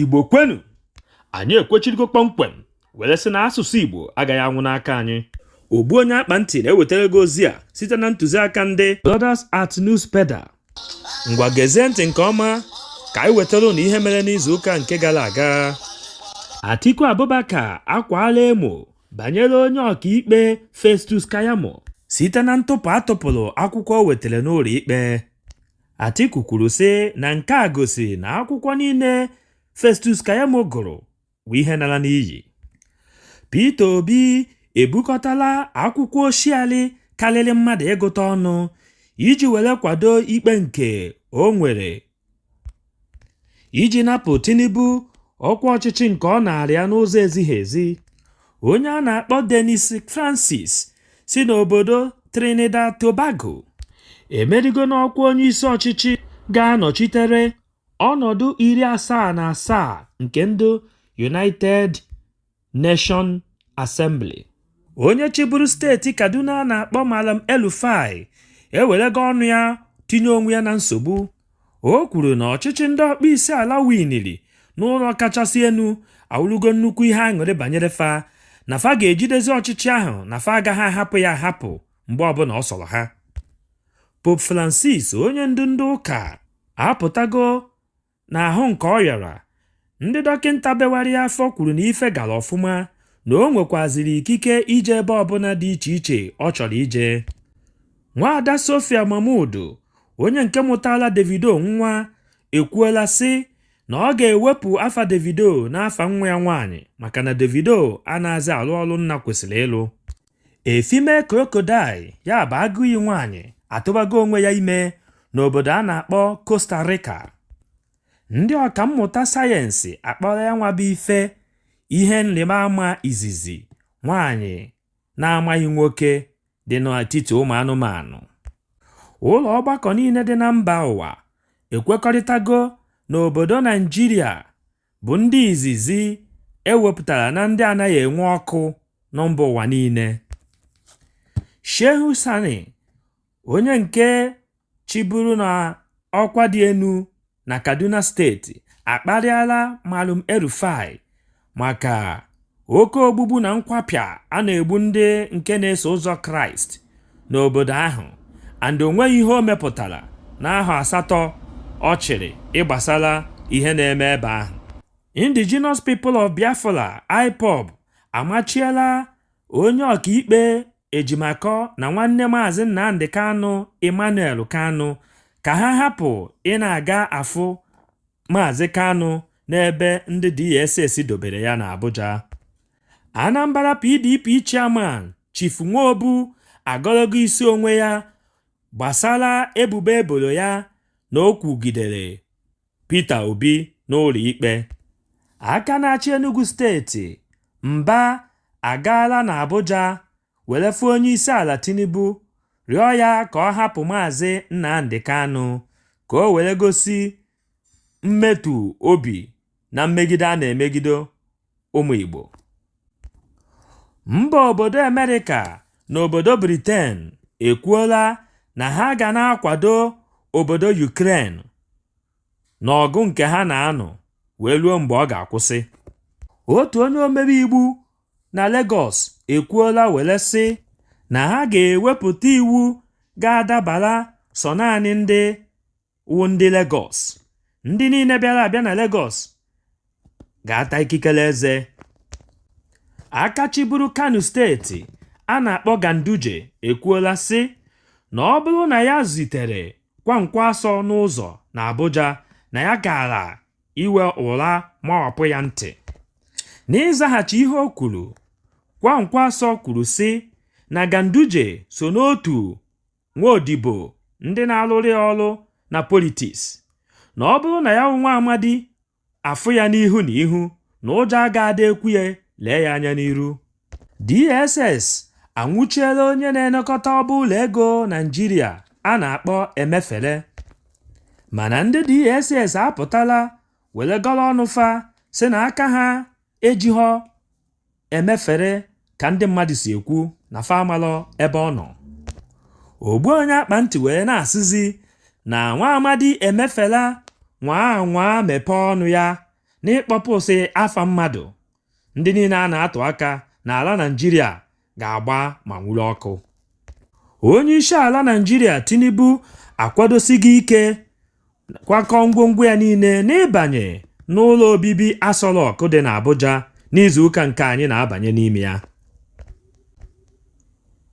igbo kwenu anyị ekwechirigo kpọmkwem were sị na asụsụ igbo agaghị anwụ n'aka anyị ogbu onye akpa ntị na-ewetara gị ozi a site na ntụziaka ndị Brothers at News Pedal ngwa gezie ntị nke ọma ka anyị wetara ụnụ ihe mere n'izu ụka nke gara aga Atiku Abubakar akwaala emo banyere onye ọkaikpe Festus Keyamo. Site na ntụpụ a tụpụrụ akwụkwọ o wetara n'ụlọ ikpe, Atiku kwuru sị na nke a gosi na akwụkwọ niile Festus Keyamo gụrụ bụ ihe nara n'iyi. Peter Obi ebukọtala akwụkwọ oshiali karịrị mmadụ ịgụta ọnụ iji were kwado ikpe nke o nwere iji napụ Tinubu ọkwa ọchịchị nke ọ naara ya n'ụzọ ezighi ezi. Onye a na-akpọ Dennis Francis si n'obodo Trinidad Tobago emerigo n'ọkwa onye isi ọchịchị ga-anọchitere ọnọdụ 77 nke ndị United Nation Assembly. Onye chịburu steeti Kaduna a na-akpọ Malam El-Rufai ewerego ọnụ ya tinye onwe ya na nsogbu. O kwuru na ọchịchị ndị ọkpọ isi ala winiri n'ụlọ kachasị enu awụlụgo nnukwu ihe aṅụrị banyere fa na fa ga-ejidezi ọchịchị ahụ na fa agaghị ahapụ ya ahapụ mgbe ọbụla ọ sọrọ ha. Pope Francis onye ndu ndị ụka apụtago N'ahụ nke ọ yara, ndị dọkịnta bewara ya afọ kwuru na ife gara ọfụma na o nwekwaziri ikike ije ebe ọbụla dị iche iche ọ chọrọ ije. Nwaada Sophia Momodu, onye nke mụtaara Davido nwa, ekwuola sị na ọ ga-ewepụ afa Davido n'afa nwa ya nwaanyị maka na Davido anaghịzị alụ ọrụ nna kwesịrị ịlụ. A female crocodile ya bụ agụiyi nwaanyị atụbago onwe ya ime n'obodo a na-akpọ Costa Rica. Ndị ọkammụta sayensị akpọọla ya nwa bụ ife ihe nrịba ama izizi nwaanyị na-amaghị nwoke dị n'etiti ụmụ anụmanụ. Ụlọ ọgbakọ niile dị na mba ụwa ekwekọrịtago na obodo Naịjirịa bụ ndị izizi e wepụtara na ndị anaghị enwe ọkụ na mba ụwa niile. Shehu Sani, onye nke chịburu na ọkwa dị enu na Kaduna steeti akparịala Malam El-Rufai maka oke ogbugbu na nkwapịa a na-egbu ndị nke na-eso ụzọ kraịst n'obodo ahụ and o nweghị ihe o mepụtara n'ahọ asatọ ọ chịrị ịgbasara ihe na-eme ebe ahụ indigenous people of biafra ipob amachiela onye ọkaikpe Ejimakọ na nwanne Maazị Nnamdị Kanụ Emmanuel Kanụ ka ha hapụ ị na-aga afụ Maazị Kanụ n'ebe ndị DSS dobere ya n'Abuja. Anambra PDP Chairman Chief Nwobu agọlọgo isi onwe ya gbasara ebubo e boro ya na o kwugidere Peter Obi n'ụlọikpe. Aka na-achị Enugwu steeti, Mba, agaala n'Abuja were fụ Onyeisiala Tinubu rịọ ya ka ọ hapụ Maazị Nnamdi Kanu ka o were gosi mmetụ obi na mmegide a na-emegide ụmụ Igbo mba obodo Amerịka na obodo Briten ekwuola na ha ga na-akwado obodo Yukren n'ọgụ nke ha na-anụ wee ruo mgbe ọ ga-akwụsị otu onye omebe iwu na Legọs ekwuola were sị na ha ga-ewepụta iwu ga-adabara sọ naanị ndị wụ ndị Legọs ndị niile bịara abịa na Legọs ga-ata ikikere eze aka chịburu Kano steeti a na-akpọ Ganduje ekwuola sị na ọ bụrụ na ya zutere Kwankwaso n'ụzọ na Abuja na ya gaara iwe ụra mawapụ ya ntị n'ịzaghachi ihe o kwuru Kwankwaso kwuru sị na Ganduje so n'otu nwa odibo ndị na-alụrụ ya ọrụ na politiks na ọ bụrụ na ya wụ nwa amadi afụ ya n'ihu na ihu na ụjọ agaghị ekwe ya lee ya anya n'iru DSS anwụchiela onye na-elekọta ọba ụlọ ego Naịjirịa a na-akpọ Emefele mana ndị DSS apụtala were gọrọ ọnụ fa sị na aka ha ejighọ Emefele ka ndị mmadụ si ekwu na fa amalọ ebe ọ nọ ogbu onye akpa ntị wee na-asịzi na nwa amadi Emefele nwaa anwaa mepee ọnụ ya n'ịkpọpụsị afa mmadụ ndị niile a na-atụ aka n'ala Naịjirịa ga-agba ma nwuru ọkụ onye isi ala Naịjirịa Tinubu akwadosigo ike kwakọ ngwongwo ya niile n'ịbanye n'ụlọ obibi Aso Rock dị n'Abuja n'izuụka nke anyị na-abanye n'ime ya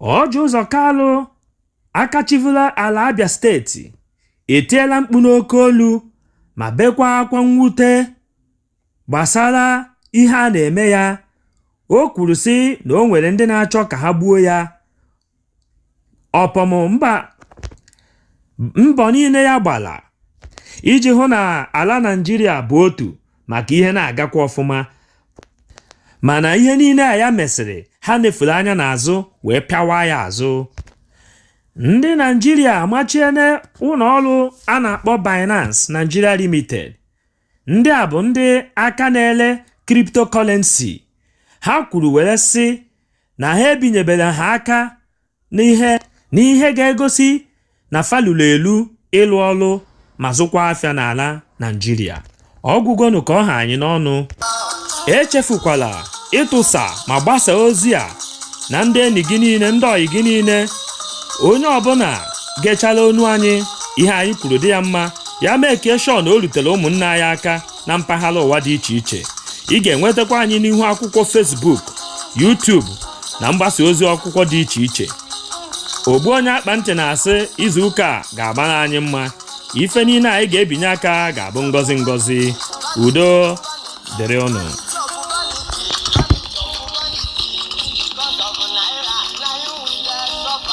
Ọjị Ụzọ Kalụ aka chịvulu ala Abia steeti etiela mkpu n'oke olu ma bekwa akwa mwute Gbasara ihe a na-eme ya, o kwuru sị na o nwere ndị na-achọ ka ha gbuo ya. Upon mbọ niile ya gbala iji hụ na ala Naịjirịa bụ otu maka ihe na-agakwa ọfụma. Mana ihe niile a ya mesịrị, ha nefuru anya n'azụ wee pịawa ya azụ. Ndị Naịjirịa amachiene ụlọ ọrụ a na-akpọ Binance Nigeria Limited Ndị a bụ ndị aka na-ele cryptocurrency. Ha kwuru were sị na ha ebinyeberọ ha aka n'ihe ga-egosi na fa lulu elu ịlụ ọrụ ma zụkwa afịa n'ala Naịjirịa. Ọ gwụgonụ ka ọ ha anyị n'ọnụ. Echefukwala ịtụsa ma gbasa ozi a na ndị enyi gị niile, ndị ọyị gị niile, onye ọbụla gechala onu anyị, ihe anyị kwuru dị ya mma ya make sure na o rutere ụmụnne anyị aka na mpaghara ụwa dị iche iche ị ga-enwetakwa anyị n'ihu akwụkwọ Facebook YouTube na mgbasa ozi akwụkwọ dị iche iche ogbu onye akpa ntị na-asị izu ụka a ga-agbara anyị mma ife niile anyị ga-ebinye aka ga-abụ ngọzi ngọzi udo dịrị ụnụ